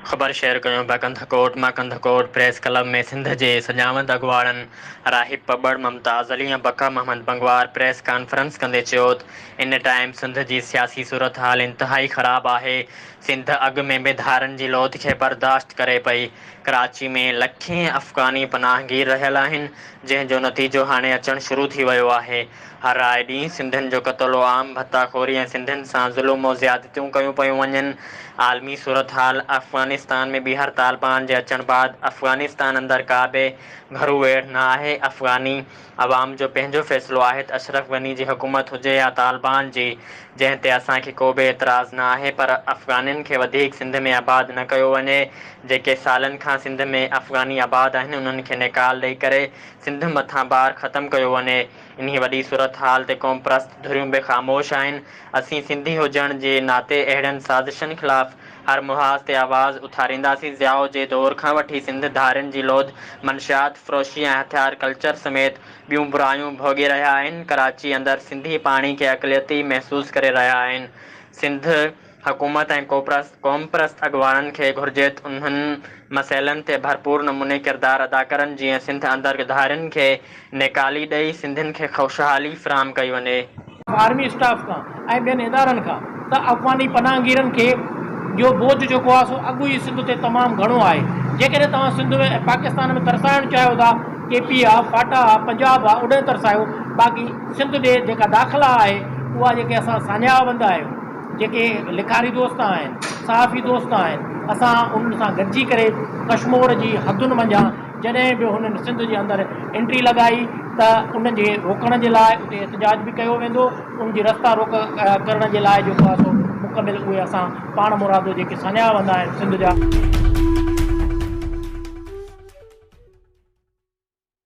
خبر شيئر ڪيون پيا ڪنڌڪوٽ مان ڪنڌڪوٽ پريس ڪلب ۾ سنڌ جي سجاوند اڳواڻن راهب پٻڙ ممتاز علي ۽ بقا محمد بنگوار پريس ڪانفرنس ڪندي چيوت ان ٽائيم سنڌ جي سياسي صورتحال انتهائي خراب آهي سنڌ اڳ ۾ به ڌارن جي لوڌ کي برداشت ڪري پئي ڪراچي ۾ لکين افغاني پناهگير رهيل آهن جنهن جو نتيجو هاڻي اچڻ شروع ٿي ويو آهي هر آئي ڏينهن سنڌين جو قتل و عام، ڀتا خوري ۽ سنڌين سان ظلم و زيادتيون ڪيون پيون وڃن. عالمي صورتحال افغانستان ۾ ٻيهر طالبان جي اچڻ بعد افغانستان اندر ڪا به گهرو ويڙهه نه آهي. افغاني عوام جو پنهنجو فيصلو آهي ته اشرف غني جي حڪومت هجي يا طالبان جي، جنهن تي اسان کي ڪو به اعتراض نه آهي پر افغانين کي وڌيڪ سنڌ ۾ آباد نه ڪيو وڃي. جيڪي سالن کان سنڌ ۾ افغاني آباد آهن انهن کي نيڪال ڏئي ڪري سنڌ مٿان بار ختم ڪيو وڃي. انهي وڏي صورتحال تي قومپرست ڌريون به خاموش آهن، اسين سنڌي هجڻ جي ناتي اهڙين سازشن خلاف هر محاذ تي آواز اٿارينداسين، ضياء جي دور کان وٺي سنڌ ڌارين جي لوڌ، منشيات فروشي ۽ هٿيار ڪلچر سميت ٻيون برايون ڀوڳي رهيا آهن، ڪراچي اندر سنڌي پاڻي کي اقليتي محسوس ڪري رهيا آهن، سنڌ. حڪومت ۽ قومپرست اڳواڻن کي گهرجي ته انهن مسئلن تي ڀرپور نموني ڪردار ادا ڪرن جيئن سنڌ اندر ڳڌارين کي نيڪالي ڏئي سنڌين کي خوشحالي فراهم ڪئي وڃي. آرمي اسٽاف کان ۽ ٻين ادارن کان ته افغاني پناهگيرن کي جو بوجھ جيڪو آهي سو اڳ ئي سنڌ تي تمام گهڻو آهي جيڪڏهن توهان سنڌ ۾ ۽ پاڪستان ۾ ترسائڻ چاهيو ٿا ڪي پي آ فاٽا آ پنجاب آ اوڏانهن ترسايو باقي سنڌ ڏي جيڪا داخلا آهي اها جيڪي اسان ساڃاهه وند آهيون جيڪي لکاري دوست آهن، صحافي دوست آهن، اسان انهن سان گڏجي ڪري ڪشمور جي حدن منجهان جڏهن به هنن سنڌ جي اندر انٽري لڳائي ته ان جي روڪڻ جي لاء اتي احتجاج به ڪيو ويندو، ان جي رستا روڪ ڪرڻ جي لاء جيڪو آهي سو مڪمل اهي اسان پاڻ مرادو جيڪي سڃايا ويندا آهن سنڌ جا.